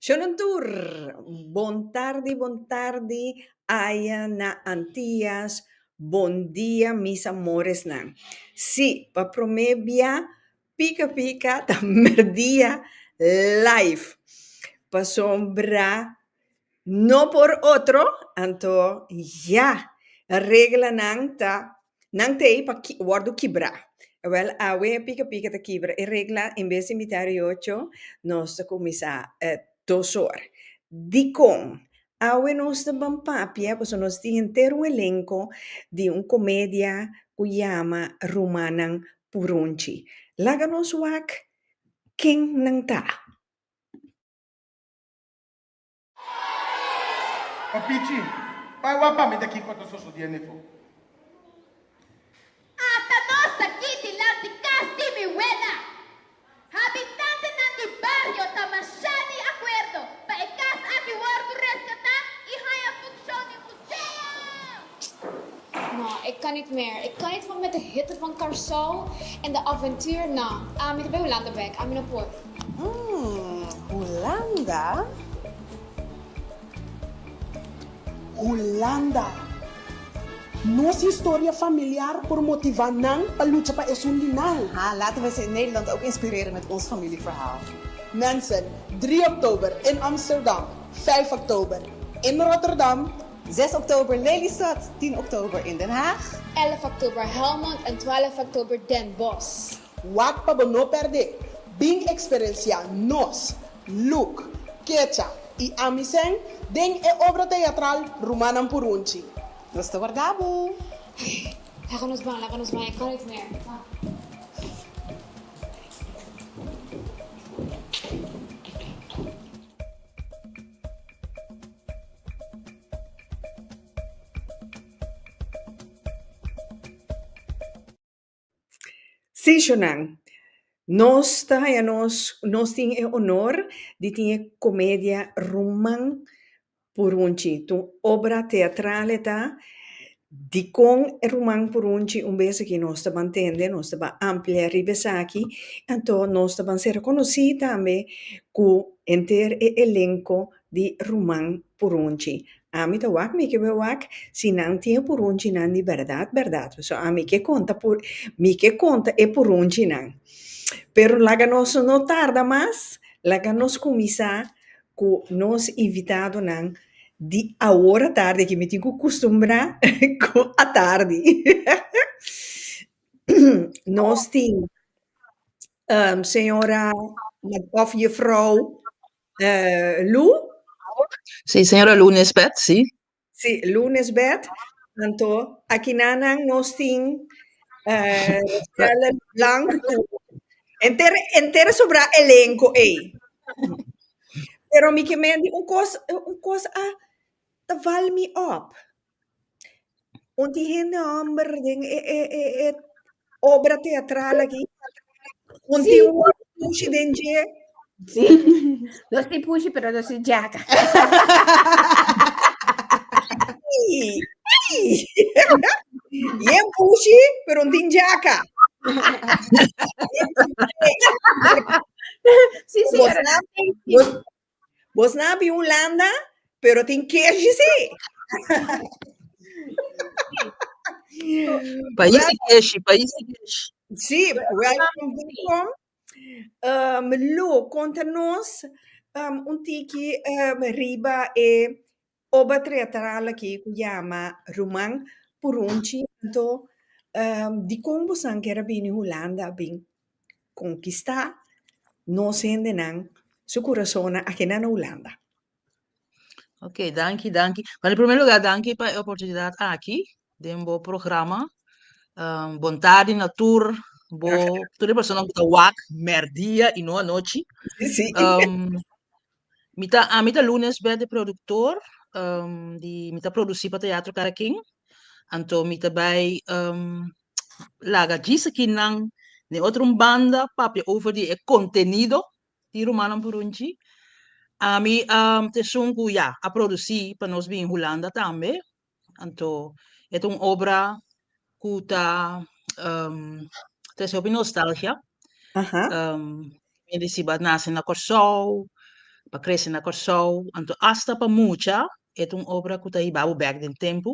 Shalom tur! Bon tardi, bon tardi aya na Antias, bon dia mis amoresnan. Sí, pa promé bia pika pika ta mèrdia live, pasobra no por otro anto ya reglanan ta Nan ta ei pa wòrdu kibrá. Wèl, awe e pika pika ta kibra e regla, en bes di mitá ora i ocho, nos ta kuminsá dos or. Dikon? Awe nos ta ban papia, pasobra nos tin henter un elenko di un komedia ku yama Rumannan Purunchi. Laga nos wak ken nan ta. O pichi, bai wak pa mi de kiko ta sosodié nefo. Ata nos aki dilanti kas di mi wela, habitantenan di bario ta mashá di akuerdo pa e kas aki wòrdu reskatá i haña funshon di un. No, e kan nit mer. E kan nit for met e hitte van Karsou en de aventuur. No, ami ta bay Hulanda bek. Ami no por. Umm, Hulanda? Hulanda! Nos historia familiar por motiva nan pa lucha pa esun di nan. Ha, laten we esei Nederland ook inspireren met ons familieverhaal. Mensen, drie oktober in Amsterdam. Vijf oktober in Rotterdam. Zes oktober Lelystad. Tien oktober in Den Haag. Èlf oktober Helmond en twaalf oktober Den Bosch. Wak pa bo no pèrdé! Bin eksperensiá nos, Luc, Kecha i ami sèn, den e obra teatral Rumannan Purunchi. Nos ta warda bo! Laga nos ban, laga nos ban, e kan ait mer. Kom. Sishonan, Nos ta haña nos, nos tin e honor di tin e comedia ruman Purunchi, ta un obra teatral e ta, dikon e ruman purunchi un bes aki nos ta ban tende, nos ta ban amplia riba esaki, anto nos ta ban ser rekonosí tambe ku henter e elenko di ruman purunchi. Ami ta wak, mi ke bai wak si nan tin e purunchinan di bèrdat bèrdat, pasobra ami ke konta pur, mi ke konta e purunchinan. Pero laga nos no tarda mas, laga nos kuminsá. cu nos invitadonan di awor atardi aki. Mi tin cu custumbra cu atardi. Nos tin señora of Jufrouw Lou. Si, señora Lou Nisbet, si. Sí, lunes bèt, tantu akinanan nos tin Rachelle Blanc ku enter enter sobrá elenko ei. Pero mi ke menti un kos un kos a ta val mi òp, un tin hende hòmber den e e e e obra teatral aki un tin un wòrdu pushi den dje Sí, los di pushi, pero los di jaca. Ey, ey. je un pushi pero un tin jaca Sí, señora. Vos Bos na abi Hulanda, pero tin kershi si. Pais di kershi, pais di kershi. Si, welkom, welkom. Um, Lou, konta nos um, un tiki um, riba e Oba treatral aki cu yama Ruman Purunci anto di con bosan kier a bini Hulanda a bin conquista nos hendenan su curasonan aki na Hulanda. Ok, danki, danki. Bueno, en primer lugar, danki pa e oportunidad aki den bo programa. Um, bon tardi na tur bo, tur e persona ku ta wak merdia i no anochi. Sí, sí. Um, Mi ta ami ta lunes bèk di produktor di mi ta produsí pa Teatro Karakin anto mi ta bai laga djis akinan den otro un banda papia over di e kontenido di rumannan por un dji ami ta esun ku ya a produsí pa nos bin Hulanda tambe Anto e ta un obra ku ta um, trese hopi nostalgia. Aha. Um, mi di si ba nase na Kòrsou, ba krese na Kòrsou, anto asta pa mucha e ta un obra ku ta hibabo bèk den tempu.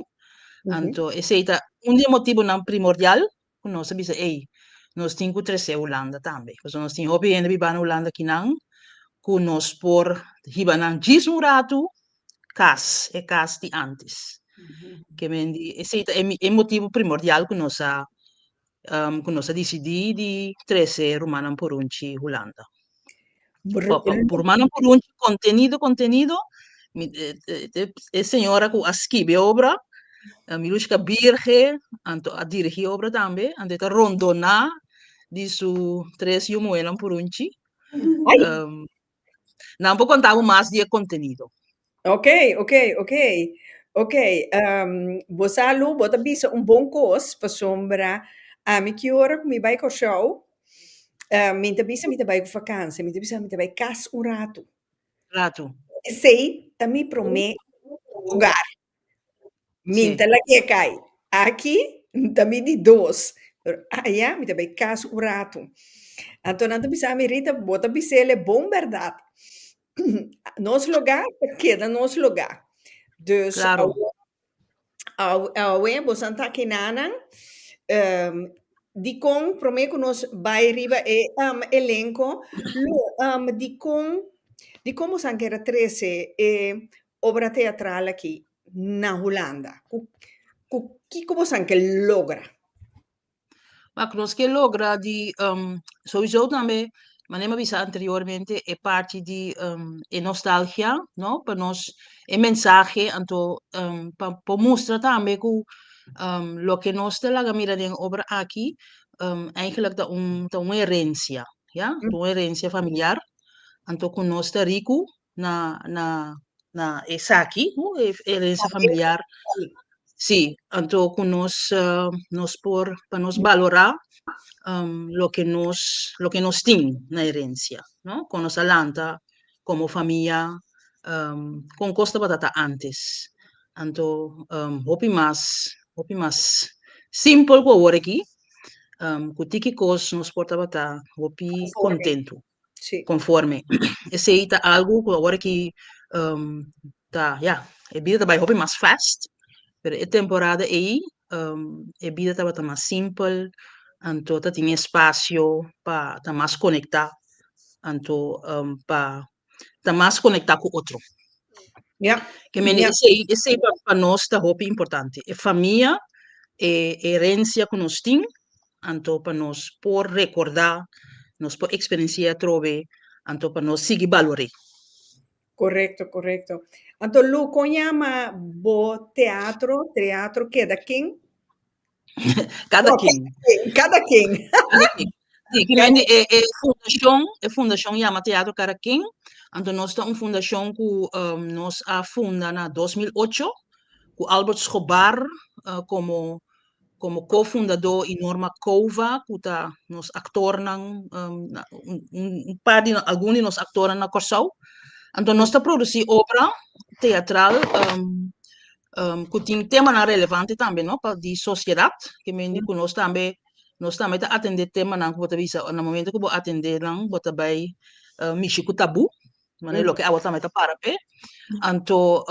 Anto esei ta un di e motibonan primordial cu nos a bisa ey nos tin cu trece Hulanda tambe pasobra nos tin hopi hende biba na Hulanda ki nan cu nos por hiba nan djis un ratu cas e cas di antes ke men di esey ta e motibu primordial cu nos a cu nos a dicidi di trece rumannan purunchi Hulanda. Por mas nan por hunchi contenido, contenido, mi e señora cu a skibi e obra, Milushka Birge, anto a dirigi e obra tambe, anto e ta rondona di su tres yu muhernan por hunchi. Nan por conta bo mas di e contenido. Ok, ok, ok, ok, ehm, bo sa lu bo ta bisa un bon kos, pasobra ami ki ora ku mi bai Kòrsou, ehm, mi ta bisa mi ta bai ku fakansia, mi ta bisa mi ta bai kas un ratu, Ratu. esei ta mi promé ogar, mi Si. ta lagu'é kai, aki ta mi di dos, pero aya mi ta bai kas un ratu, anto nan ta bisami, Rita, bo ta bis'el e bon bèrdat, Nos lugá ta keda nos lugá. Dus, awe, awe bo san ta aki nanan, dikon, promé ku nos bai riba e elenko, lo, dikon, dikon bo san keda trese e obra teatral aki na Hulanda? Ku, ku kiko bo san ke logra? Ma ku nos ke logra di um souiso tambe manera mi a bisa anteriormente e parti di um e nostalgia no pa nos e mensahe anto um pa por mustra tambe ku um loke nos ta laga mira den obra aki um eigenlijk ta un ta un herencia ya ta un herencia familiar anto ku nos ta riku na na na esaki hu e herencia familiar si anto cu nos nos por pa nos balora loke nos loke nos tin na herencia no con nos a lanta como famia con cos tabata ta antes anto hopi mas hopi mas simple cu awor aki cu tiki cos nos por tabata hopi contento. conforme esey ta algo cu awor aki ta ya e bida ta bay hopi mas fast pero e temporada ey e bida tabata mas simpel anto ta tin espacio pa ta mas conecta anto pa ta mas conecta cu otro ya esey pa nos ta hopi importante e famia e herencia cu nos tin anto pa nos por rekordá, nos por eksperensié atrobe, anto pa nos sigui balor'é. Korekto, korekto. Anto Lou, kon yama bo teatro, Treatro Keda Ken? Kada ken. Kada ken. Kada ken. Sí, primeramente e e fundashon, e fundashon yama Teatro Kada Ken. Anto nos ta un fundashon ku um, nos a funda na 2008 ku Albert Schobar uh, komo Komo ko-fundadó i Norma Cova ku ta nos aktornan un par di algun di nos aktornan na Kòrsou. Anto nos ta produsí obra teatral ku tin temanan relevante tambe no pa di sosiedat ke mende ku nos tambe nos tambe ta atendé temanan ku bo ta bisa na momento ku bo atendé nan bo ta bai mishi ku tabú. Manera loke awa tambe ta para p'e. Anto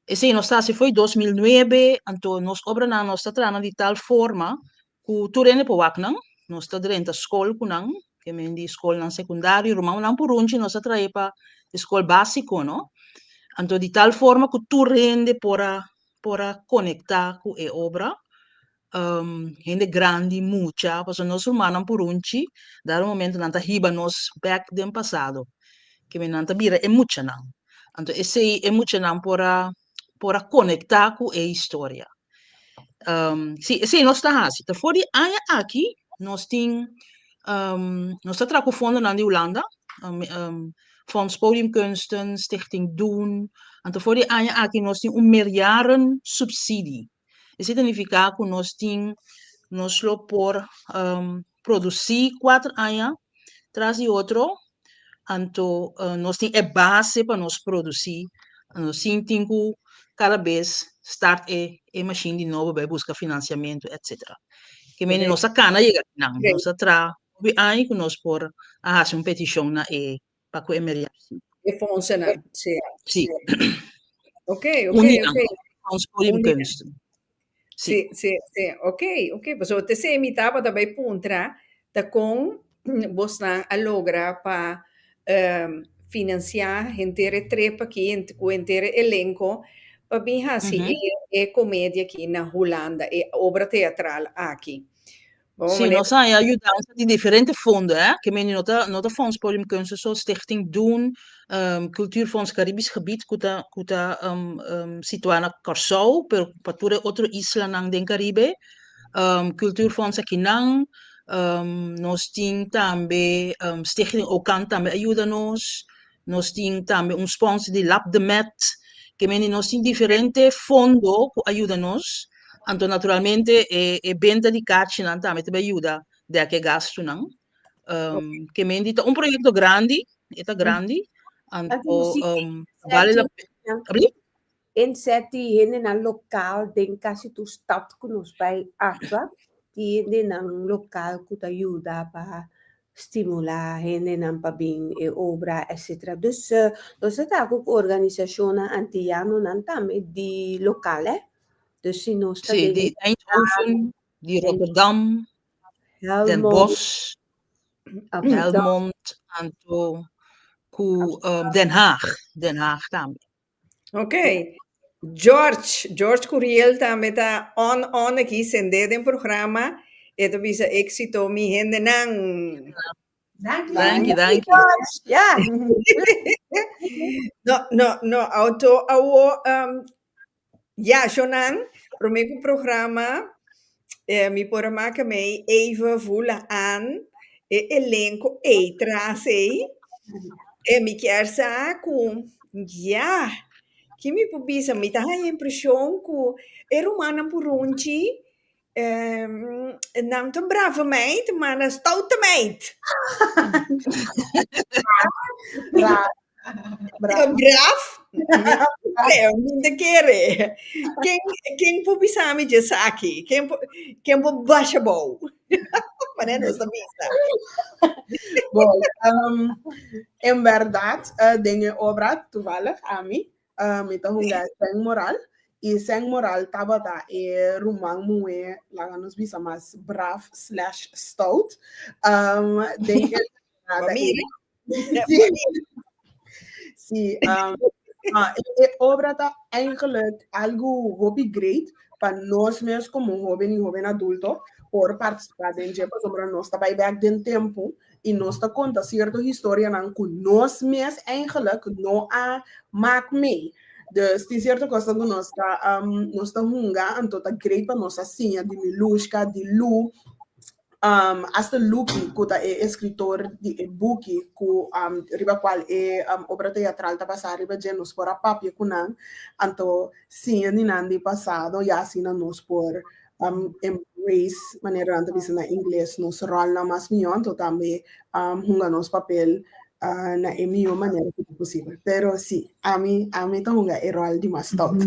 esei nos ta hasi foi dos mil nuebe, anto nos obranan nos ta trahanan di tal forma ku tur hende por wak nan, nos ta drenta skol ku nan, ke men di skolnan sekundario, rumannan purunchi nos a trae pa e skol básiko, no, anto di tal forma ku tur hende por a por a konektá ku e obra, hende grandi mucha pasobra nos rumannan purunchi dado momento nan ta hiba nos bek den pasado keme nan ta bira e muchanan anto esei e muchanan por a por a konekta ku e historia si esei nos ta hasi ta for di aña aki nos tin nos ta traha ku fondonan di hulanda Fonds Podiumkunsten Stichting Doen anto for di aña aki nos tin un meerjaren subsidie E significa cu nos tin, nos lo por produci cuater aña tras di otro, anto nos tin e base pa nos produci, sin tin cu cada bes start e e machine di nobo bai busca financiamento, etc. Ke manera nos a cana yega aki nan, nos a traha hopi aña cu nos por a haci un peticion na e. pa cu emergency. E fondsennan, si. Si. Ok, ok, ok. Uninan, con fonds Podiumkunsten. Si. Si, si, si. Ok, ok. Pasobra te ser mi tabata bay puntra ta con bosnan a logra pa financia henter e trip aki cu henter e elenco pa bin haci e comedia aki na Hulanda, e obra teatral aki. Sí, nos a haña yudansa di diferente fondo, eh, ke meni no ta no ta Fonds Podium Kunsten so, Stichting Doen, um, Kultuurfonds Karibisch Gebied ku ta ku ta um, um, situá na Kòrsou, pero pa tur e otro islanan den Karibe, um, Kultuurfonds Akinan, um, nos tin tambe um, Stichting Okan tambe a yuda nos, Nos tin tambe un sponsor di Lap de Met, ke mende nos tin diferente fondo ku a yuda nos, anto naturalmente e benta di kachinan tambe ta bai yuda dèk e gastunan. Ke mende ta un proyekto grandi, e ta grandi, anto bale la pena. Tin sèti hendenan lokal den kasi tur stat ku nos bai aktua. Tin hendenan lokal ku ta yuda pa stimulá hendenan pa bin e obra etsetera. Dus nos a traha ku organisashonnan antiyanonan tambe di lokal. Dus si nos ta den e stat. Di Rotterdam, Den Bosch, Helmond anto ku Den Haag, Den Haag tambe. Ok. George, George Curiel tambe ta on on aki, sendé den programa. E ta bisa éksito mi hendenan. Danki, danki. Danki, George. Ya. No, no, no auto awor, um, ya, shonnan, promé ku programa, E mi por a maka mei Eva Vula Aan e elenco ei tras ei. E mi kier sa cu ya, ki mi por bisa, mi ta haya impresion cu e rumannan purunchi em, nan ta brava meid, ma nan stout meid. Ras, Bravo. Braaf? Kere, mi ta kere. Ken, ken por bisa mi dje esaki? Ken por, ken por basha bou? Mané nos ta bisa. Bo, um, en bèrdat, uh, den e obra, tuvallig, ami, uh, mi ta hunga e Sèn Moral, i Sèn Moral tabata e ruman muhé, laga nos bisa mas, braaf slash stout. Um, den e temporada ei, Famiri. Sí, sí. Um, uh, e obra ta eigenlijk algo hobby great pa nos mes como joven y joven adulto por participar den je pasobra nos ta bij back den tempo y nos ta conta cierto historia nan cu nos mes eigenlijk no a maak mee. Dus tin cierto cosa cu nos ta, um, nos ta hunga, anto ta great pa nos a siña di Milushka, di Lu, Asta Luki, ku ta e eskritor di e buki ku riba kual e obra teatral ta basá riba dje, nos por a papia ku nan anto siña di nan di pasado i asina nos por embrace, manera nan ta bisa na ingles, nos ròlnan mas mihó, anto tambe hunga nos papel na e mihó manera ku ta posibel. Pero sí, ami ami ta hunga e ròl di mas stout.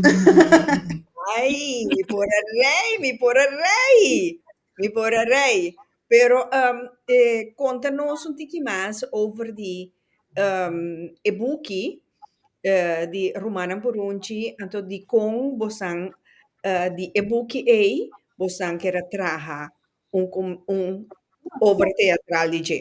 Ai, mi por a rei, mi por a rei! Mi por a rei, pero um e konta nos un tiki mas over di um e buki eh di Rumannan Purunchi, anto dikon bosan eh di e buki ei bosan keda traha un un obra teatral di dje.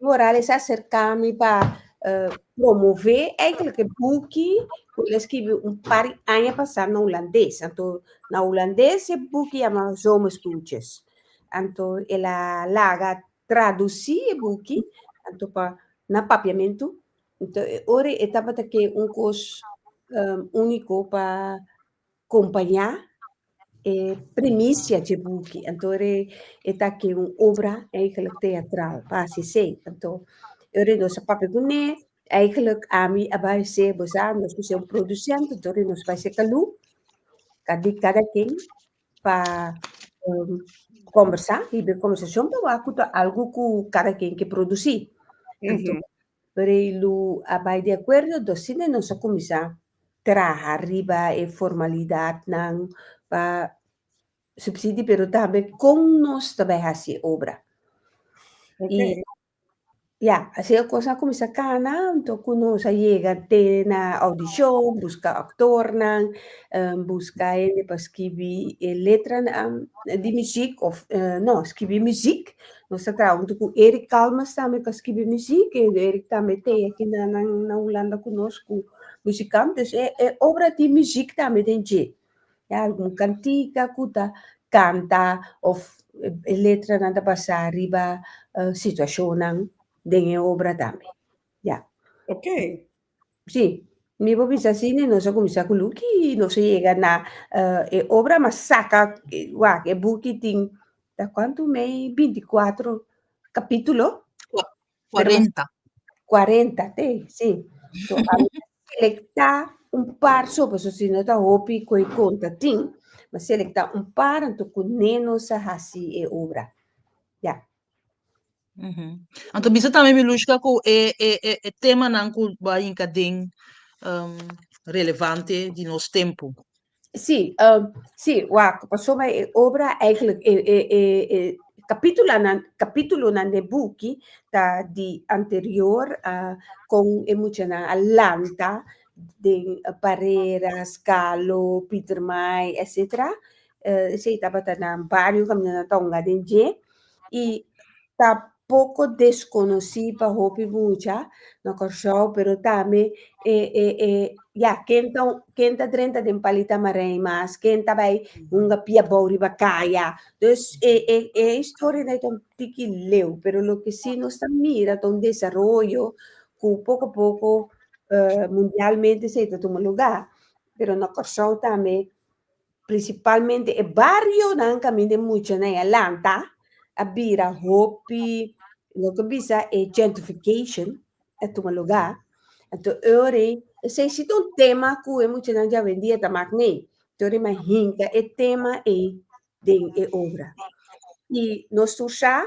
Evo Morales a acerca mi pa uh, promove eigenlijk e boeki ku hulle skibi un par anja pasa na Holandes. Anto na Holandes e boeki jama Zomerstoeltjes. Anto ela laga traduci e boeki anto pa na papiamento. Anto e ori e tabata ke un kos um, único pa kompañá e primisia dje buki. Anto ora e ta ke un obra eigelik teatral, pa hasi esei. Anto, ora nos a papia ku ne, eigelik ami a bai se, bo sa, nos ku se un produsènt, anto ora nos bai se kalú, ta di kada ken pa kòmbersá, hib'é kòmbersashon pa wak ku ta algu ku kada ken ke produsí. Rei Lu a bai di akuerdo, dosina nos a kuminsá traha riba e formalidadnan pa supsidi pero tambe kon nos ta bai hasi e obra. I ya, asina e kosnan a kuminsá kana anto ku nos a yega te na audishon, buska aktornan, buska hende pa skibi e letranan di muzik òf no, skibi muzik Nos ta traha huntu ku Eric Calmes tambe pa skibi muziek. Eric tambe e tei aki na na Hulanda ku nos ku muziekant. Dus e e obra di muziek tambe den dje. Ya algun kantika ku ta kanta òf e letranan ta basá riba situashonnan den e obra tambe. Ya. Ok. Sí, mi por bisa así, ne nos a cuminsa cu Luki, nos a yega na eh, e obra mas saca, eh, wak, e buki tin, ta cuanto mei, 24 capítulo, pero mas 40. 40, te, sí. So, a mi selecta un par sopa, so si no ta hopi coi conta tin, ma selecta un par, anto cu ne nos a hasi e obra. Ya, Anto bisa tambe Milushka ku e e e e temanan ku bo a yinka den relevante di nos tempu. Sí, sí, wak, pasobra e obra eigenlijk e e e e kapitulanan kapitulonan den e buki ta di anterior a kon e muchanan a lanta den Parreras, Kalo, Pieter Maai, etsetera. eh, esei tabata na bario caminando tonga den dje y ta poco desconocí pa hopi mucha na Kòrsou, pero tambe e e e ya ken ta ken ta drenta den palita marei mas ken ta bai hunga pia bou riba kaya dus e e e historia dai ton tiki leu pero lo que sí nos ta mira ta un desarrollo cu poco a poco eh, mundialmente sei ta tuma lugar pero na Kòrsou tambe Principalmente e barionan camin den muchanan a lanta, a bira hopi, lo que bisa e gentrification, a tuma lugar. Entonces, ori, ese si un tema cu e muchanan ya ven día ta mak nee. Entonces, ma hinca e tema e den e obra. Y nos tur sa,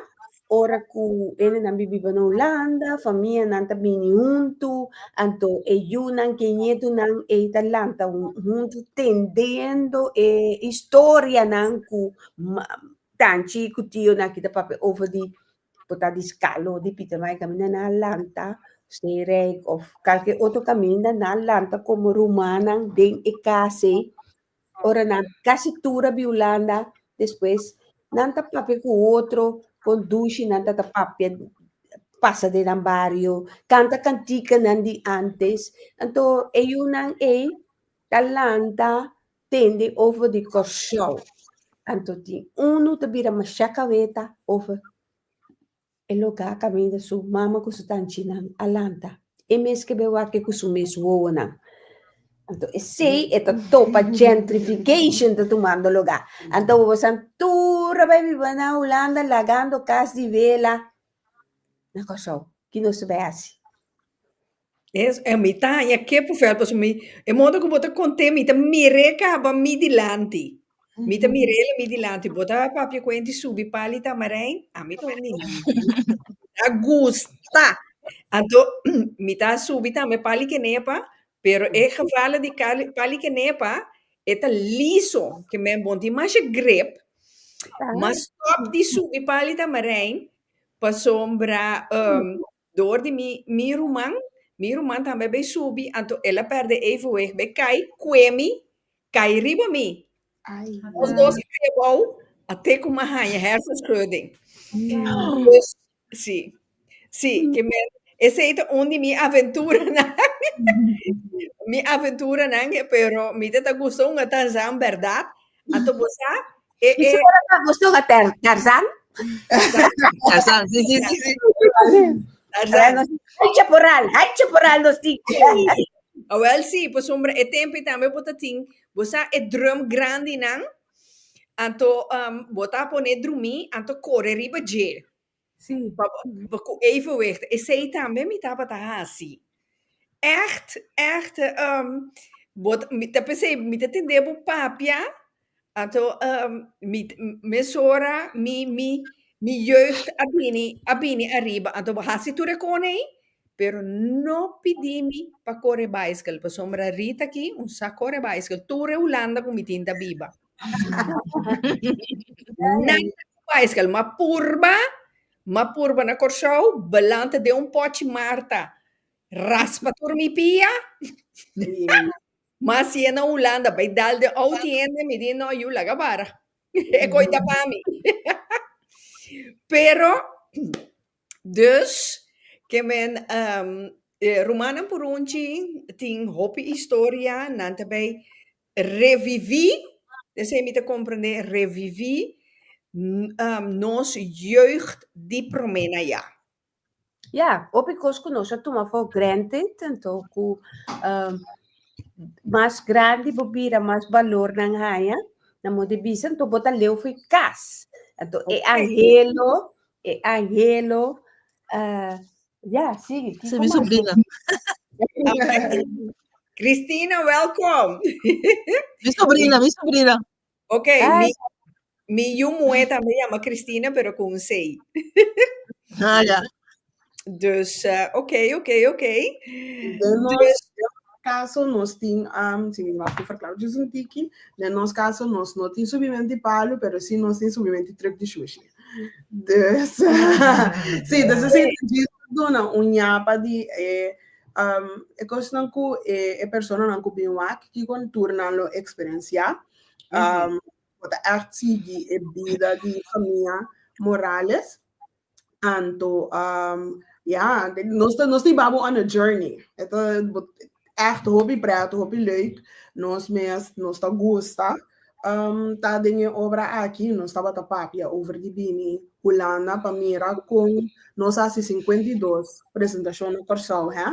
Ora cu enenan bibiba na Hulanda, famianan ta bini huntu, anto e yunan cu e nietunan ey ta lanta huntu tendendo e historianan cu tanchi cu tionan aki ta papia over di, por ta di scalo di Pietermaai Caminda nan a lanta, Steenrijk of calke otro caminda nan a lanta como rumannan den e casey Ora nan casi tur a biulanda, despues nan ta papia cu otro con dushi, nan ta ta papia pasa den nan bario, canta canticanan di antes. Anto e yunan ei ta lanta tende over di Corsou. Anto tin unu ta bira masha caveta over. E lo ka kaminda su mama ku su tanchinan a lanta. E mes ke be wak e ku su mes wowonan. Anto esei e ta topa gentrification ta tumando lugá. Anto wowosan tur a bai biba na Hulanda lagando kas di vela na Kòrsou. Ki nos ta bai hasi? Yes, e mi ta haña ke por fel pasobra mi e modo ku bo ta kont'é mi ta mir'é kaba mi dilanti, mi ta mir'é la mi dilanti, bo ta papia ku e di subi pali Tamarijn? Ami ta un niña, mi ta gusta, anto mi ta subi tambe pali Kenepa, pero e gevela di kali pali Kenepa e ta liso, ke men bon tin masha grip, mas stòp di subi pali Tamarijn pasobra Dor di mi mi ruman, mi ruman tambe be subi, anto el a perde evenwicht, be kai, kue mi, kai riba mi. Ai. Nos dos a kai abou, a te kuma haña hersenschudding. Damn. Dus, si, si, ke men, esei ta un di mi aventuranan, mi aventuranan, pero mi ta ta gusta un atanzan, berdad, Ato bo sa? E, e. Gusto ka ter, Tarzan? Tarzan, si, si, si, si. Tarzan. Hai chaporal, hai chaporal nos ti. Oh, well, si, por sombra, e tempi tambe bo ta tin, bo sa e drum grandi nan, anto um, bo ta pone drumi, anto kore riba dje. Sí, pa pa ku evenwicht. Esei tambe mi tabata hasi. Ègt, ègt, ehm, bo ta mi ta p'esei mi ta tende bo papia, anto ehm mi ta mesora mi mi mi jeugd a bini a bini ariba, anto bo hasi tur e kona ei, pero no pidi mi pa kore baiskel, pasobra Rita aki un sa kore baiskel, tur e Hulanda ku mi tin ta biba. Bicycle, ma purba, ma purba na Kòrsou, belanta den un pòchi Marta raspa tur mi pia, ma si e na Hulanda bai dal den ou tiende, mi di no, yu laga bara, e koi ta pa mi. Pero, dus, ke men rumannan purunchi tin hopi historia, nan ta bai Reviví, esei mi ta komprendé, reviví nos jeugd di promé na ya. Ya, hopi kos ku nos a tuma for granted, anto ku mas grandi bo bira, mas balor nan haña, nan bo di bisa, anto bo ta leu for kas. Anto e angelo, e angelo Ya, sigui. Kiko mas? Sobrina. Christina, welkom. Mi sobrina, mi sobrina. Ok, ah, mi, mi yu moe también llama Christina, pero con un C. ah, ya. Dus, uh, ok, ok, ok. Demos, dus, caso nos tin, um, si mi mag verklaren, dus un tiki, de nos caso nos no tin subimento di palo, pero si nos tin subimento di truck di sushi. Dus, sí, dus esei ta djis pa duna un ñapa di e um, e kosnan ku e e personanan ku bin wak, kikon tur nan lo eksperensiá. Um, bo ta ègt sigui e bida di famia Morales. Anto, um, ya, nos ta nos ta iba bo on a journey. E ta bo Ècht hopi prèt, hopi lèuk. Nos mes nos ta gusta ta den e obra aki. Nos tabata papia over di bini Hulanda pa mira kon nos hasi sinkuenta i dos presentashon na Kòrsou, hè.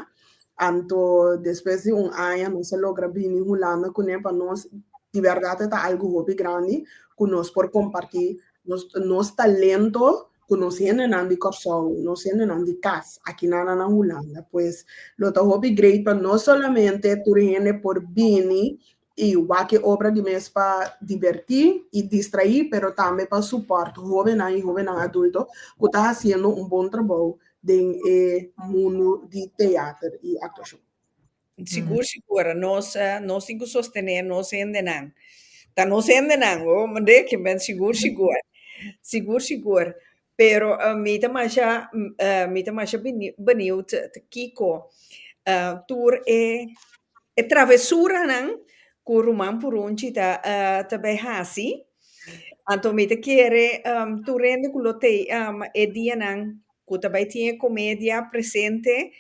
Anto despues di un aña nos a logra bini Hulanda kuné. Pa nos di bèrdat e ta algu hopi grandi ku nos por kompartí nos talento cu nos hendenan di Corsou, nos hendenan di cas akinana na Hulanda, pues lo ta hopi great pa no solamente tur hende por bini y wak-e obra di mes pa diverti y distrai, pero tambe pa support hobennan y hobennan adulto cu ta haciendo un bon trabou den e mundu di teater y actuacion. Sigur sigur nos nos tin cu sostene nos hendenan ta nos hendenan o mende ki men sigur sigur sigur sigur pero mi ta masha mi ta masha benieuwd ta kico tur e e travesuranan cu ruman Purunchi ta ta bay haci anto mi ta kere tur hende cu lo tey e dianan. Cu ta bay tin e comedia presente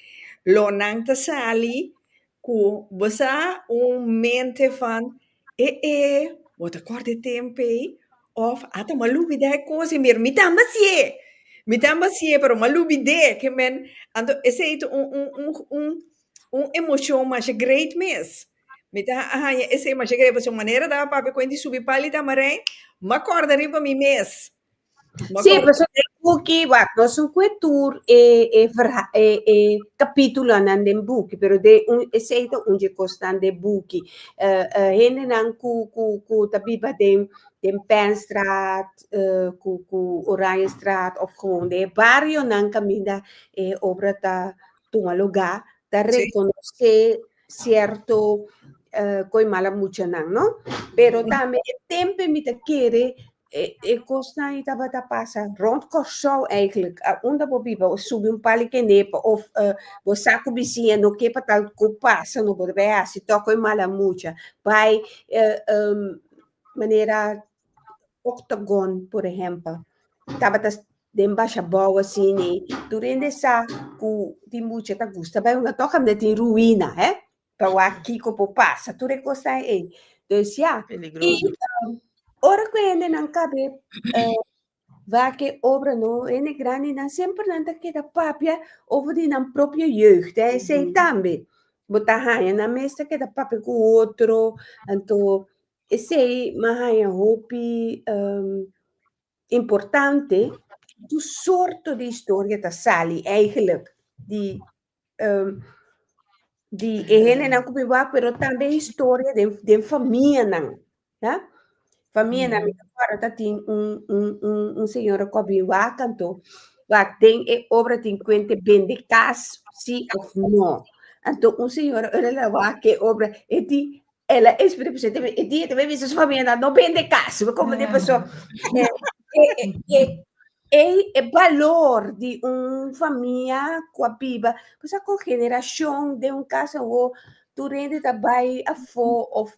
lo nan ta sali cu bo sa un mente van e e bo ta corda e tempey of ata bo a lubida e cos y mira mi tambe a siye mi tambe a siye pero ma lubide ke men anto esey ta un un un un emocion masha great mes mi ta haya esey masha great pasobra manera ta papia cu hende subi pal y ta amarey ma corda riba mi mes. Sí, pues un buki, wat, no su kue tur e, e, verha, e, e capítulo nan den buki, pero de un eseito un je kosnan de buki. Uh, eh, uh, eh, hende nan ku, ku, ku ta biba den, den Penstraat, uh, eh, ku, ku Oranjestraat, of gewoon de barrio nan kaminda e eh, obra ta tuma lugar, ta reconoce cierto uh, koi mala mucha nan, no? Pero también e tempe mi ta kere E kosnan ei tabata pasa rond Kòrsou eigentlik. A unda bo biba, bo subi un pali kenepa of bo sa ku bisiña no ke pa tal ku pasa, no por bai hasi tòk e mala mucha. Bai manera Octagon, por ehèmpel, tabata den Bashabou asini. Tur hende sa ku tin mucha ta gusta bai unda tòk, kaminda tin ruina, hè. Ta wak kiko por pasa tur e kosnan ei. Dus ya, i ora ku hendenan kab'é wak e obranan, hende grandinan, semper nan ta keda papia over di nan propio jeugd, hè, esei tambe. Bo ta haña nan mes ta keda papia ku otro, anto esei mi a haña hopi importante, tur sorto di historia ta sali, eigelijk, di um, di e hende nan kubi wak, pero tambe historia den, den famia nan. Ya? Famia nan, mi acuerdo ta tin un, un, un, un señora kubi wak anto, wak den e obra tin kuente bende kas, si of no. Anto un señora ora la wak e obra, e di, El a esplika pa su e dia te me bisa su familia na no bende kas, me como de paso. E e valor di un familia ku a biba, paso ku generacion den un kas awo tur hende ta bai afo of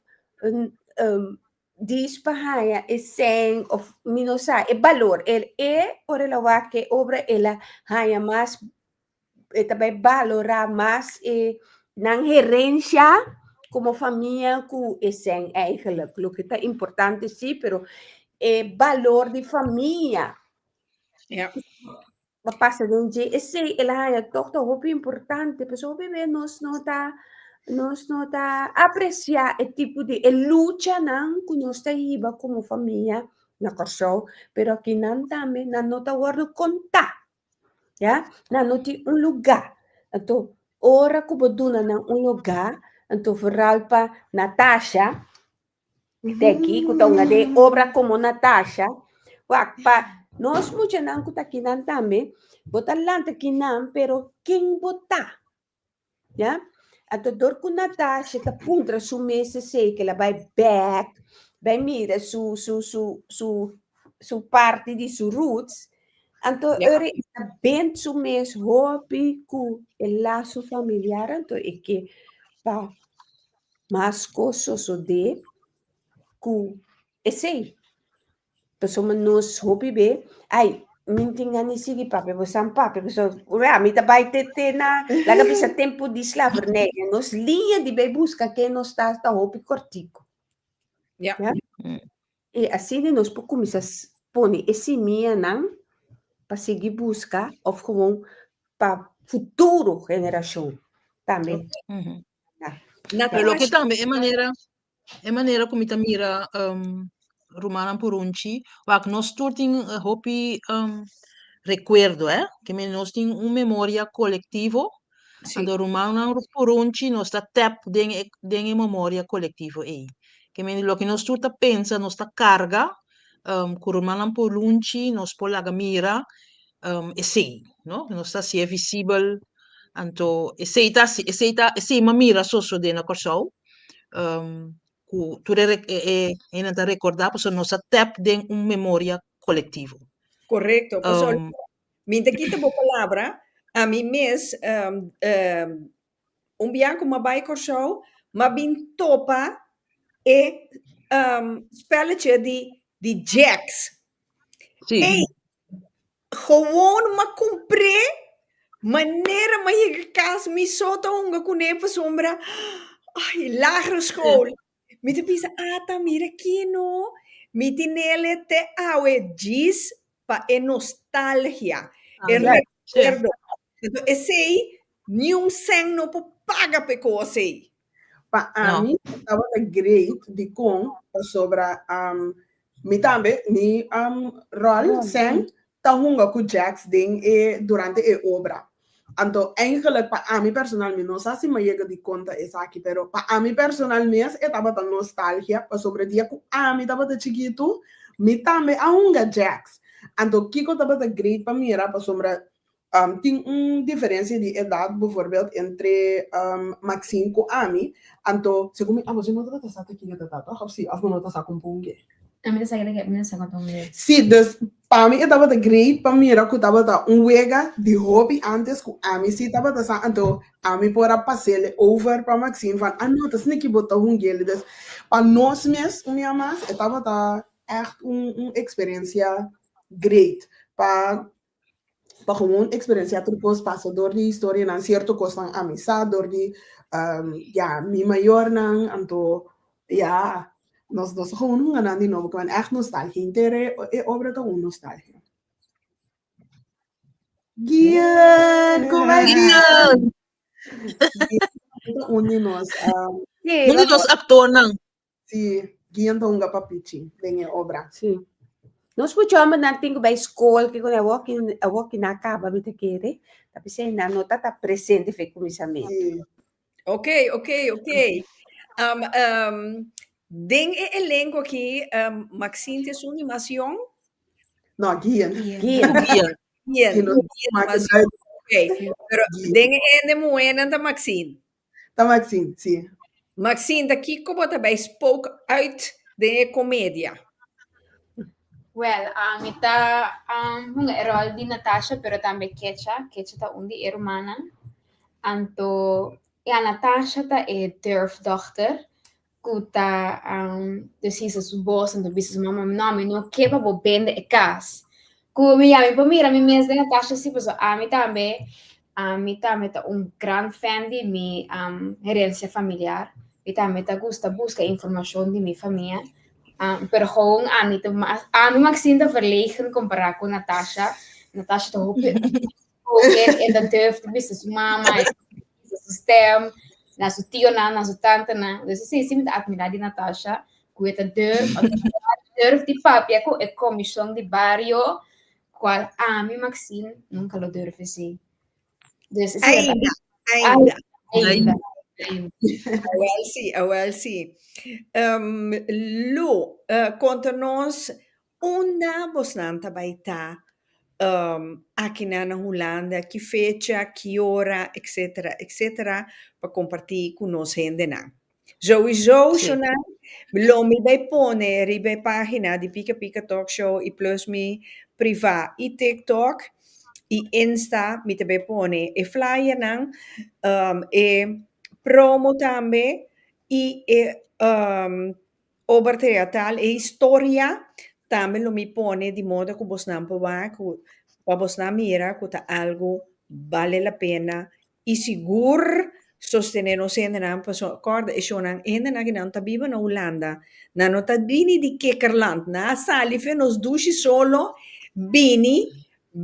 dis pa haña esèn of mi no sa, e balor el e ora el a wak e obra el a haña mas e ta bai valorá mas e nan herencia como famia ku e sen eigenlijk. Lo ke ta importante si, pero e valor di famia Ja. pa pasa den dje esei el a haña tòg ta hopi importante. Pasobra hopi bes nos no ta nos no ta apresiá e tipo di e luchanan ku nos ta hiba como famia na Kòrsou, pero akinan tambe nan no ta wòrdu kontá. Ya, nan no tin un lugá, anto ora ku bo duna nan un lugá, anto vooral pa Natasha, de aki ku ta un a de obra komo Natasha, wa pa nos muchanan ku ta kinan tambe, bo ta lanta kinan pero ken bo ta? Ya? Anto dor ku Natasha ta puntra su mes sesei, ke el a bai bèk, bai mira su su su su su parti di su roots, anto Ya. ora e ta bend su mes hopi ku e laso familiar anto e ke pa mas kos sosodé ku esei. Pasobra nos hopi be ai mi tin gana sigi papia bo san papia bo san ora mi ta bai te te na laga bisa tempo di slavernij nos liña di bai buska ke nos ta ta hopi kortiko ya e asina nos por kumisa pone e simianan pa sigi buska of gewoon pa futuro generashon tambe Pero lo que tambe e manera e manera cu mi ta mira um, rumannan purunchi, wak nos tur tin eh, hopi um, recuerdo, eh? Que men nos tin un memoria colectivo. Sí. Ando rumannan purunchi nos ta tap den e, den e memoria colectivo ei. Que men lo que nos tur ta pensa, nos ta carga um, cu rumannan purunchi, nos por laga mira esei no nos ta hasié visibel anto esei ta hasi esei ta esei mi a mira so so den na Kòrsou ku tur e e hende ta rekordá pasobra nos a tèp den un memoria kolektivo. Korekto pasobra mi ta kita bo palabra ami mes un bia ku mi a bai Kòrsou mi a bin topa e spèlleche di di jèks ei Gewoon ma compré manera ma yega cas mi so ta hunga cu ne pasobra ay lagere school mi ta bisa ata mira kino mi tinele te awe djis pa e nostalgia e recuerdo esey niun cen no por paga pe cosey. Pa ami tabata great dikon pasobra mi tambe mi ròl Sam ta hunga ku Jacks den e durante e obra. Anto eigenlik pa ami personal mi no sa si mi yega dikon ta esaki pero pa ami personal mes e tabata nostalgia pasobra dia ku ami tabata chikitu mi tambe a hunga Jacks anto kiko tabata great pa mira pasobra Tin un diferensia di edat, bivoorbeeld entre Maxine ku ami, anto segun mi amo si no tabata sa ta kiko ta tata òf si òf bo no ta sa kon pungé. Ami ta sa keda ke mi ta sa kon ta un wega. Si, dus pa mi e tabata great pa mira ku tabata un wega di hopi antes ku ami si tabata sa anto ami por a pasele over pa Maxine van a no ta sne ki bo ta hungele dus pa nos mes un mia mas e tabata ègt un eksperensia great pa pa gewoon experenciá tur cos pasa dor di historianan cierto cosnan a misa dor di ya mi mayornan anto ya nos nos ta gewoon hunga nan di nobo cu nan echt nostalgia henter e obra ta un nostalgia. Guion como ey guion guion ta un di nos. Uno di nos actornan. Si, Gian ta hunga pa pichi den e obra. Sí. Nos mucho hombres nan tin que bay school, que con awok in awok in acaba mi te kere. Tapi se na no tata presente fe kumisamen. Si. Ok, ok, ok. Um, um, den e elenco aquí, um, Maxine tiene su animación. No, Gian. Gien. Gian. Bien, Gino, bien, maak het Maxine. uit. Ok, pero Gian. den e ende muenan ta Maxine. Ta Maxine, si. Maxine, ta kiko bo ta bai spoke uit den e komedia? Wèl, mi ta hunga e ròl di Natasha, pero tambe Kecha. Kecha ta un di e rumannan. Anto, ya, Natasha ta e dèrf dòkter, ku ta desi su esbos ento bisa su mama, no mi no ke pa bo bende e kas. Ku mi yami pa mira mi mes den Natasha si paso ami tambe ami tambe ta un gran fèn di mi herensia familiar. Mi tambe ta gusta buska informashon di mi famia. Pero houn ami ta mas ami maksin ta verlegen kompará ku Natasha. Natasha ta hopi Cohen en dat durf te bisa su mama, bisa su stem, na su tio na, na su tante na. Dus e sesi mi ta admira di Natasha, ku e ta durf, durf di papia ku e komishon di bario, kual ami Maxine nunka lo durf hasi. Dus ainda, ainda, ainda. Awel si, awel si. Um, Lu, uh, konta nos Unda bosnan ta bai ta akinan na Hulanda, ki fecha, ki ora, etc. Etc. Pa kompartí ku nos hendenan. Zoey Zooshonan, lo mi bai pone riba e página di Pika Pika Talk Show i plus mi privá i TikTok i Insta mi ta bai pone e flyernan, e promo tambe i e Ober teatral e historia tambe lo mi pone di moda cu bosnan por wak cu pa bosnan mira cu ta algo bale la pena y sigur sostene nos hendenan pasobra acorda e shownan hende aki nan ta biba na Hulanda nan no ta bini di Kikkerland nan a sali fe nos dushi solo bini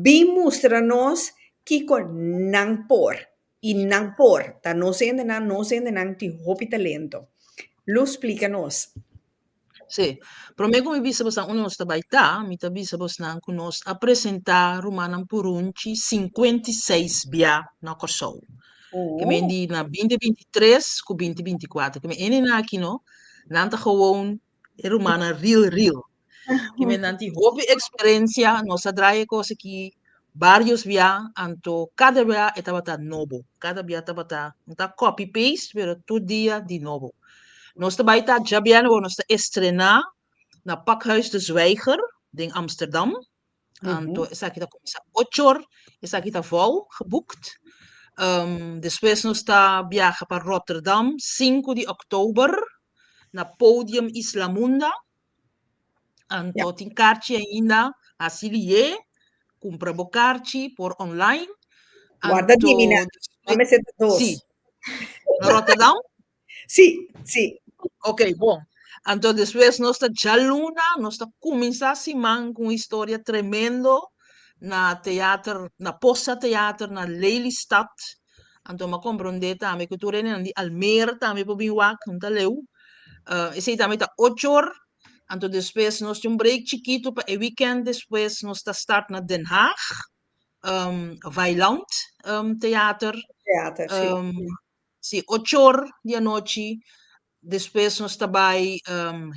bin mustra nos kico nan por I nan por, ta nos hendenan, nos hendenan tin hopi talento. Lu splika nos. Sí. Promé ku mi bisa bosnan unda nos ta bai ta, mi ta bisa bosnan ku nos a presentá rumannan purunchi sinkuenta i seis bia na Kòrsou. Ke men di na binti binti tres ku binti binti kuater. Ke men hendenan aki no, nan ta gewoon e rumannan ril ril. Kimennan tin hopi experencia, nos a draya e cos aki varios bia, anto cada bia e tabata nobo, cada bia tabata, no ta copy paste, pero tur dia di nobo. Nos ta bai ta djabian awor, nos ta estrena na Pakhuis de Zwijger den Amsterdam, anto esaki ta cuminsa ocho or, esaki ta vou geboekt. despues nos ta biaha pa Rotterdam cinco di october na Podium Islamunda, Anto tin karchi ainda, hasi lié, kumpra bo karchi por online. Warda Dimina, nan mester ta dos. Sí. Na Rotterdam? Sí, sí. Ok, bon. Anto despues nos ta djaluna, nos ta kuminsá siman ku un historia tremendo na teater, na Posa Teater na Lelystad. Anto m'a komprondé tambe ku tur e nenan di Almer tambe por bin wak, nan ta leu. Esei tambe ta ocho or. Anto despues nos tin un break chikitu pa e wikènt despues nos ta start na Den Haag, Weiland Theater. Theater, sí. Sí, ocho or di anochi. Despues nos ta bai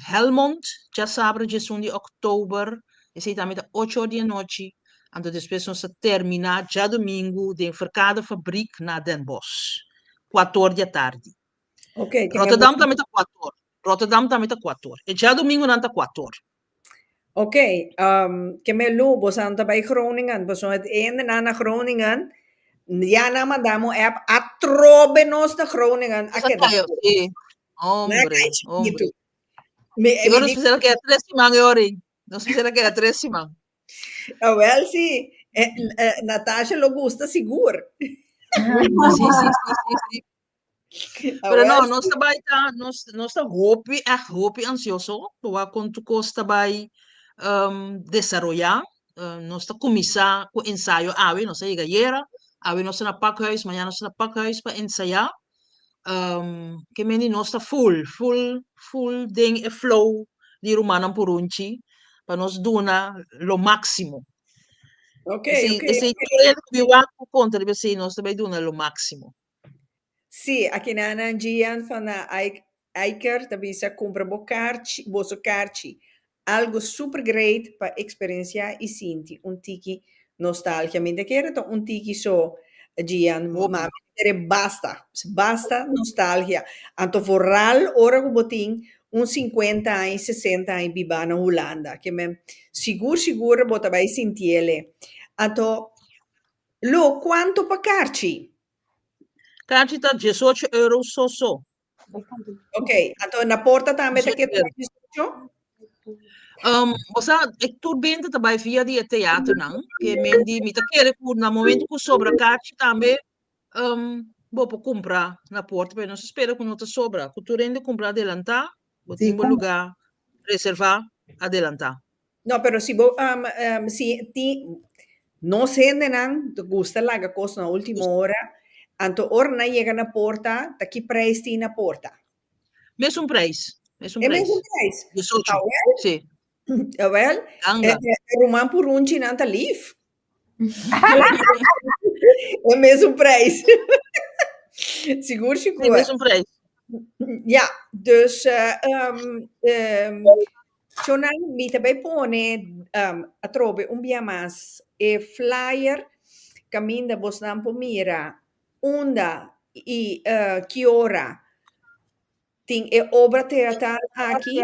Helmond, dja sabra djesun di October, esei tambe ta ocho or di e nochi, anto despues nos ta termina dja domingu den Verkade Fabriek na Den Bosch, kuato or di atardi. Rotterdam tambe ta kuato or, Rotterdam tambe ta kuato or, e dja domingu nan ta kuato or. Oke, ke mes lu boso a ta bai Groningen, boso a hende nan na Groningen, ya nan manda mi un app, atrobe nos na Groningen a keda scopi, nan a kai chikitu, mi di nos bisa keda tres siman e ora ei, nos bisa ta keda tres siman. Awel si, Natasha lo gusta sigur. Pero no, Awes. nos ta bai ta, nos, nos ta hopi, echt hopi ansioso, pa wak kon tu kos ta bai um, desaroya. Uh, nos ta kumisa ku ensayo awe, nos a yega yera, awe nos ta na pakhuis, mañana nos ta na pakhuis pa ensaya. Um, ke men di nos ta full, full, full den e flow di rumannan purunchi, pa nos duna lo máximo. Okay, Esei, okay, esei okay. tur el ku bi wak por konta riba esei, nos ta bai duna lo máximo. Sí, aki na nan Gian van der Eyck Eyker ta bisa cumpra bo carchi, boso carchi. Algo super great pa experiencia y sinti un tiki nostalgia. Mi ta kere ta un tiki so Gian bo mami ta kere basta, basta nostalgia. Anto vooral ora cu bo tin un cincuenta aña, sesenta aña biba na Hulanda. Ke men sigur sigur bo ta bay sintiele. Anto Lo, cuanto pa carchi? Carchi ta diesocho euro so so. Ok, anto na porta tambe ta Diesocho keda euro. diesocho? Um, bo sa, e tur bente ta bai via di e teaternan, ke men di mi ta kere ku na momento ku sobra kachi tambe um, bo por kumpra na porta, pero nos ta spera ku no ta sobra, ku tur hende kumpra adelantá, Bo tin bo lugá reservá adelantá. No pero si bo si tin nos hendenan ta gusta laga cos na ultimo ora anto ora nan yega na porta ta ki prijs tin na porta? Mesun prijs mesun prijs. E mesun prijs? Diesocho si. Awel awel e ruman purunchi nan ta lief. e mesun prijs. Sigur si cu. E mesun prijs. Ja, dus um, um, Chona, mi ta bij pone um, atrobe un bia mas e flyer caminda bos nan por mira unda y uh, kiora tin e obra teatral aki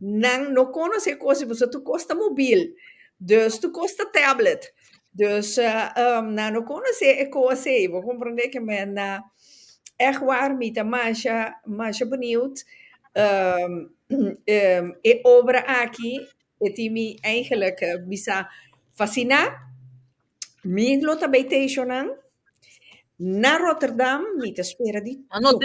Nan no conos e cos y boso tu cos ta mobil dus tu cos ta tablet dus nan no conos e cos ey bo comprende que me na echt war mi ta masha masha benieuwd e obra aki e tin mi eigenlijk bisa fascina mi lo ta bay teishonan na Rotterdam mi ta spera di tur.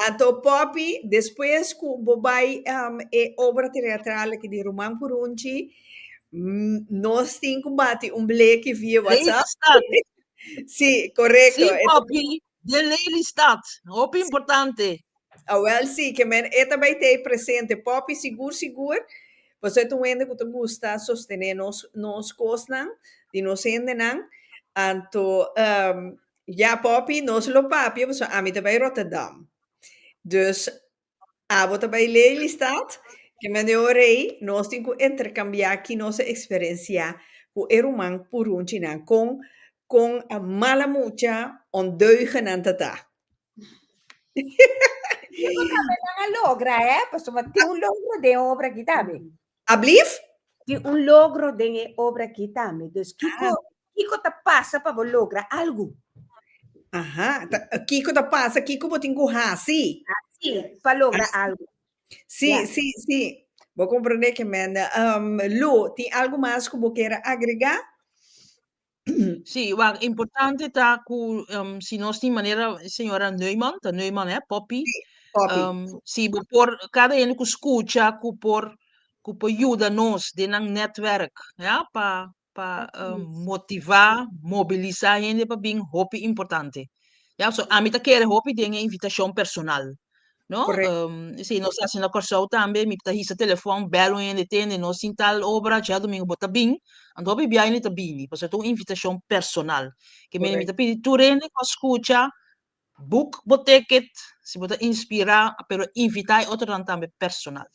Ato Poppy, despues cu bo bay e obra teatral aki di Ruman Purunchi, nos tin cu bati un bleki via WhatsApp. Si, corecto. Si, Poppy, den Lelystad, hopi importante. Awel si, ke men e ta bay tey presente. Poppy, sigur, sigur, pasobra e ta un hende cu ta gusta sostene nos, nos cosnan di nos hendenan. Anto, Ya popi nos lo papia pasobra ami ta bai Rotterdam. Dus abo ta bai Lelystad, ki maniobra ei nos tin ku interkambiá ki nos a eksperensiá ku e ruman purunchinan kon kon mala mucha ondeugennan ta ta. Yo creo tambe nan a logra hè, pasobra tin un logro den obra aki tambe. Ablief? Tin un logro den e obra aki tambe. Dus kiko, kiko ta pasa pa bo logra algu? Aha, ta, kiko ta pasa, kiko bo tin ku hasi? Hasi pa logra algu. Si, Ya. si, si. Bo komprende, Ximena. Um, Lou, tin algu mas ku bo kere agregá? Sí, wak importante ta ku em, si nos tin manera señora Neumann, ta Neumann hè, Poppy, Sí, Poppy. em, si bo por kada hende ku skucha ku por ku por yuda nos den nan netwerk, ja, pa pa em, motivá, mobilisá hende pa bin hopi importante. Ja, so ami ta kere hopi den e invitashon personal. No? Correct. Um, si nos hace na Corsou también, mi ta hisa telefon, bel un hende tende, no sin tal obra, ya domingo bota bin, and hopi bia hende ta bini, pues tu invitación personal. Que mi mi ta pidi tu hende ko escucha, book bo ticket, si bota inspira, pero invita e otro dan también personal.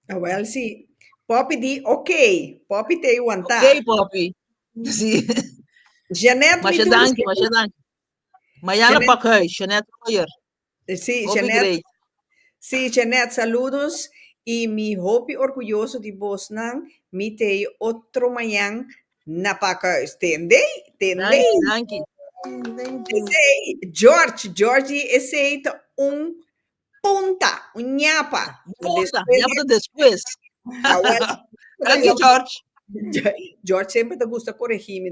Ah, well, si Poppy di ok, Poppy te aguanta. Ok, Poppy. Si. Jeanette, Masha danki, Masha danki. Mañana pak huis, Jeanette Royer. Sí, Hopi Jeanette. great. Sí, Jeanette, saludos. I mi hopi orguyoso di bosnan. Mi te ei otro mañan na pakhuis. Tendei, Danki, tendei. danki. Esei, George, Georgie, esei ta un Punta, un ñapa. Punta, ñapa ta despues. Thank you, George. George semper ta gusta coregi mi.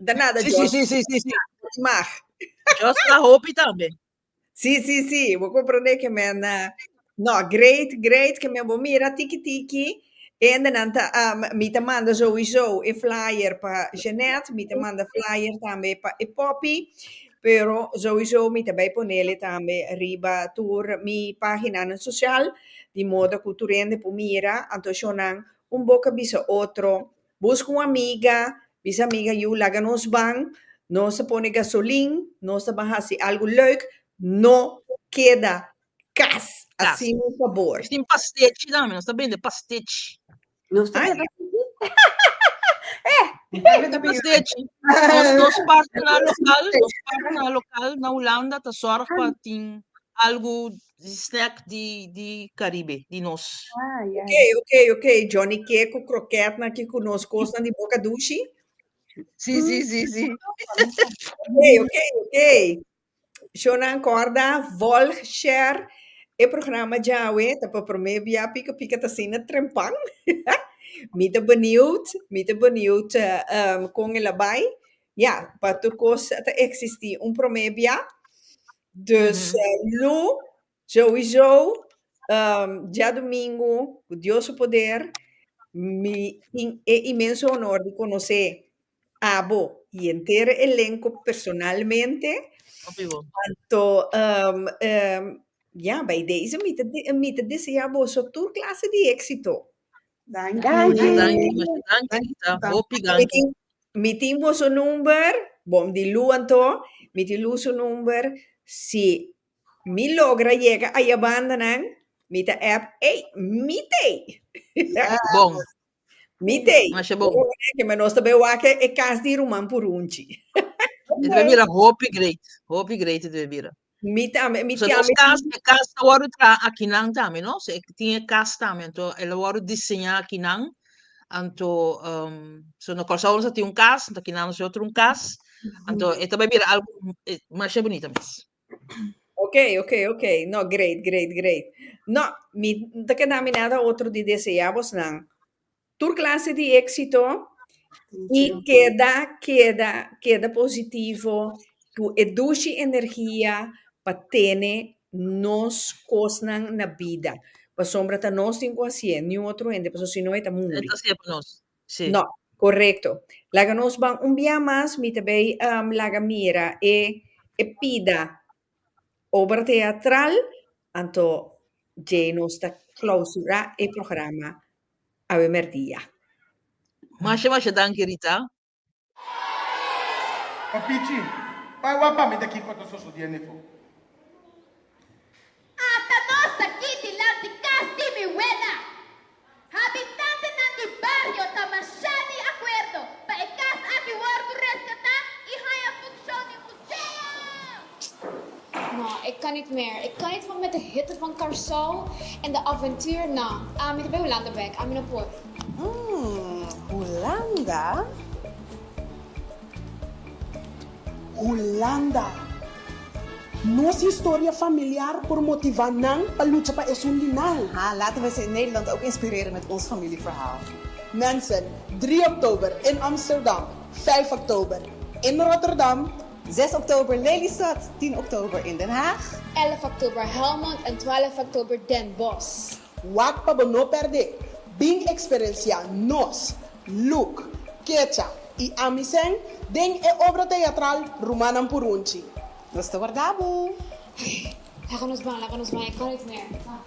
Ta nada, George. Si, si, si, si. Di mag. George ta hopi tambe. Si, si, si. Bo comprende ke men. No, great, great ke men bo mira tiki tiki. Hendenan ta am, mi ta manda sowieso e flyer pa Jeanette, mi ta manda flyer tambe pa e poppy, pero sowieso mi ta bay ponele tambe riba tur mi paginanan social, di modo cu tur hende por mira, anto shownan un boca bisa otro, busca un amiga, bisa amiga yu laga nos ban, nos ta pone gasolin, nos ta ban haci algo leuk, no keda Kas, asin mi pabor. Tin pastechi dame, nos ta bende pastechi. Nos ta bende pastechi. Nos dos parti na lokal, dos parti na lokal na Hulanda ta zorg pa tin algu di snack di di Karibe di nos. Ok, ok, ok, Johnny Cake ku krokètnan ki ku nos kosnan di boka dushi. Si, si, si, si. Ok, ok, ok. Shownan kòrda, vòlg, share e programa djawe ta pa promé bia pika pika ta asina trempan mi ta beniut mi ta beniut kon el a bai ya pa tur kos ta eksistí un promé bia, dus lo. Chauizou, djadumingu, cu Dios su poder, mi tin e inmenso honor di conoce abo y enter e elenco personalmente, anto ya, bay deze mi ta desea boso tur clase di exito. Mi tin boso number, bom di Lou anto, mi tin Lou su number, si Mi logra yega aya banda nan, mi ta app ey mi tey. Bon. Mi tey. Masha bon. Ke me nos ta be wake e kas di ruman purunchi. E ta be bira hopi great, hopi great e ta be bira. Mi tambe, mi So nos tambe. kas, e kas ta wòrdu traha akinan tambe, no? So e tin e kas tambe, anto el a wòrdu diseñá akinan, anto um, so na Kòrsou nos a tin un kas, anto akinan nos a otro un kas, anto e ta be bira algu e masha bunita mes. Oke, oke, oke. No, great, great, great. No, mi no ta keda mi nada otro di deseá bosnan tur klase di éksito i keda, keda, keda positivo ku e dushi energia pa tene nos kosnan na bida. Pasobra ta nos tin ku hasié, niun otro hende, pasobra si no e ta muri. Sí. No, korekto. Laga nos ban un biaha mas, mi ta bay laga mira e e pida obra teatral, anto djei nos ta clausura e programa awe merdia. Masha masha danki Rita. Papichi, bai wak pa mi ta kiko ta sosodié nefo. Ata nos aki di lat di kas di mi wela, habitantenan di bario ta mashá di akuerdo pa e kas aki wordu reskatá i haña funshon di museo. No, e kan nit mer. E kan nit for met e hitte van Karsou en de aventuur, no. Ami ta bay Hulanda bek, ami no por. Umm, Hulanda? Hulanda! Nos historia familiar por motiva nan pa lucha pa esun di nan. Ha, laten we see Nederland ook inspireren met ons familieverhaal. Mensen, Drie oktober in Amsterdam, Vijf oktober in Rotterdam. Zes oktober Lelystad, tin oktober in Den Haag. Èlf oktober Helmond en twèlf oktober Den Bosch. Wak pa bo no pèrdé! Bin eksperensiá nos, Luc, Kecha i ami sèn, den e obra teatral Rumannan Purunchi. Nos ta warda bo! Oké, laga nos ban, laga nos ban, e kan rit mer. Ban!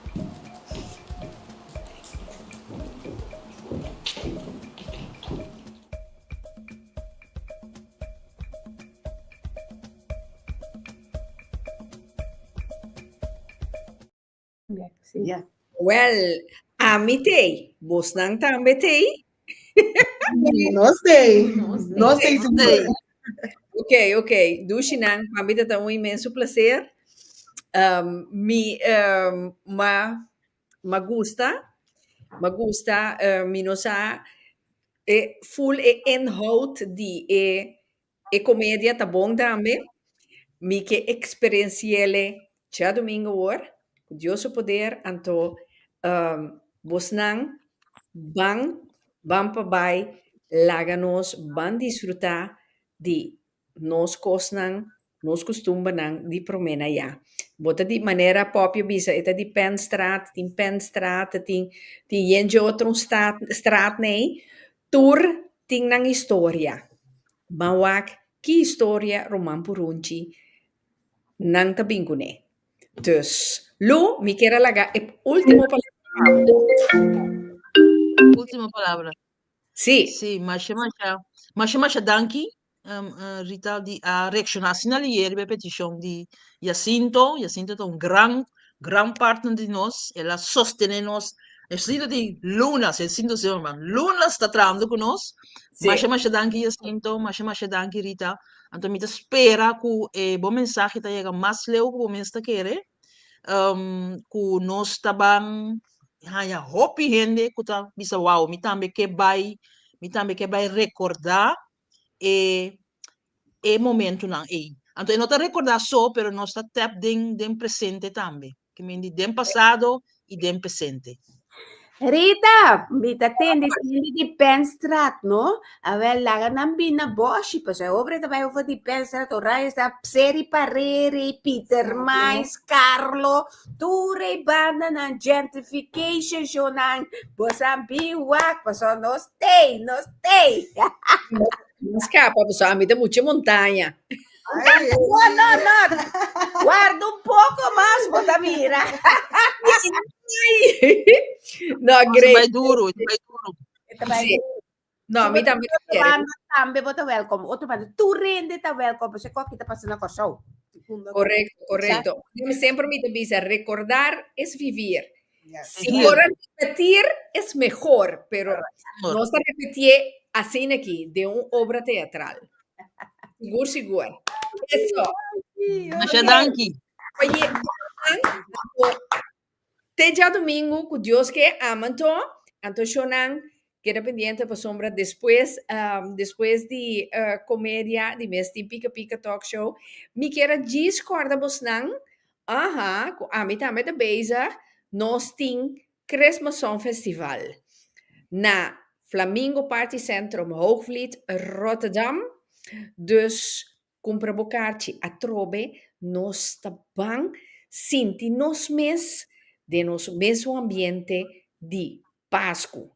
Well, ami t'ei, bosnan tambe t'ei? Nos t'ei, nos t'ei segur. Ok, ok, Dushinan, pa mi ta ta un inmenso placer. Mi, ma M'a gusta, m'a gusta eh mi no sa e full e inhoud di e e comedia ta bon tambe, mi ke experienciele dja domingo awor, cu Dios su poder, anto eh bosnan ban, ban pa bay laga nos, ban disfruta di nos kosnan, nos kustumbernan di promé na ya. Bo ta di manera pòpio bisa, e ta di Penstraat, tin Penstraat, tin tin yenchi otro un staat straat nei, tur tin nan historia. Ban wak ki historia Ruman Purunchi nan ta bin kuné. Dus, lo, mi kier a laga e último palabra pa bo. Último palabra. Sí. Sí, masha masha, masha masha danki. Rita di a reacciona asina ayer riba e peticion di Jacinto, Jacinto ta un gran gran partner di nos, el a sostene nos, esplita tin lunas, e sinto señor man, lunas ta trahando cu nos, Sí. masha masha danki Jacinto, masha masha danki Rita, anto mi ta spera cu e bo mensahe ta yega mas leu cu bo mes ta kere, cu nos ta ban haya hopi hende ku ta bisa wou mi tambe ke bai mi tambe ke bai rekorda e e momentunan ei anto e no ta rekorda so pero nos ta tap den den presente tambe ke mindi den pasado i den pesente. Rita, mi ta tende tende di Penstraat no, a wel laga nan bin na boshi paso e obra ta bai over di Penstraat ora esta Pseri Pareri, Pieter Maes, Carlo, Tur e bandanan, gentrification shownan, boso a bin wak, paso no stay, no stay. Nos capa, paso a mi ta mucha montaña. Ay, No, no, no. Guarda un poco mas, bo ta mira. No, Ons great. bai duro, ons bai duro. Esta bai Sí. No, mi tambe no kere. Banda tambe bo ta welkom. Otro banda, tu rende ta welkom, pashi kua ki ta pasa na Kòrsou. Correcto, correcto. Exacto. Mi sempre mi te bisa, recordar es vivir. Yeah. Si Exacto. por a repetir es mehor, pero nos ta repetié asina aki, den un obra teatral. Sigur, sigur. Eso. Masha danki. Oye, Juan, Te djadumingu ku Dios ke ama nto, anto shonnan keda pendiente pasobra despues despues di komedia di mes tin pika pika talk show mi kier a djis kòrda bosnan aha ku ami tambe ta bezig nos tin Christmas Song Festival na Flamingo Party Centrum Hoogvliet Rotterdam dus Cumpra bo carchi atrobe nos ta ban sinti nos mes den nos mesun ambiente di Pascu.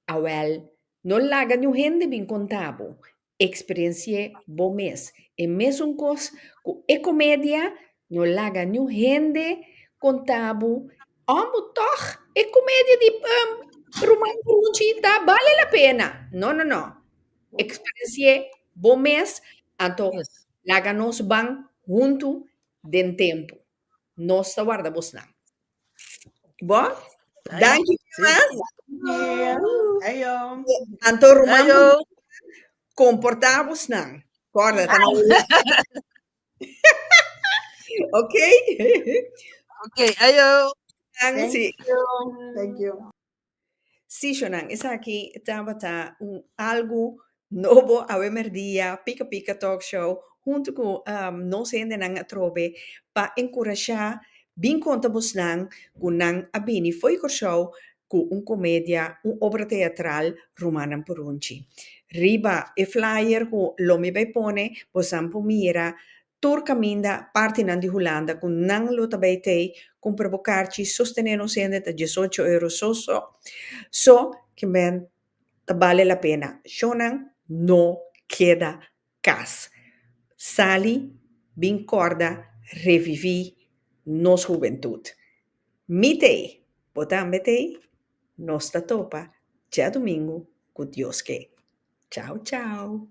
Awel, no laga niun hende bin conta bo, experienci'e bo mes. E mesun cos cu e comedia, no laga niun hende conta bo, òn bo tog e comedia di Ruman Brunchi ta bale la pena. No, no, no. Experienci'é bo mes, anto laga nos ban huntu den tempu. Nos ta warda bosnan. Bo? Danki mas. Anto ruman Buhaya, comporta bosnan. Corda, ta na Holanda. Oké. Oké, ajo. Danki. Thank you. Sishonan, esaki tabata un algu nobo awe merdia, Pika Pika Talk Show, huntu ku nos hendenan atrobe pa enkurashá bin konta bosnan ku nan a bini fo'i Kòrsou ku un komedia, un obra teatral Rumannan Purunchi. Riba e flyer ku lo mi bai pone, bosan por mira Tur kaminda partinan di Hulanda ku nan lo ta bai t'ei kumpra bo karchi sostené nos hende ta diesocho euro so so so kimbèn ta bale la pena shonnan no keda kas sali bin kòrda reviví nos hubentut mi t'ei bo tambe t'ei nos ta topa djadumingu ku Dios ke chau chau.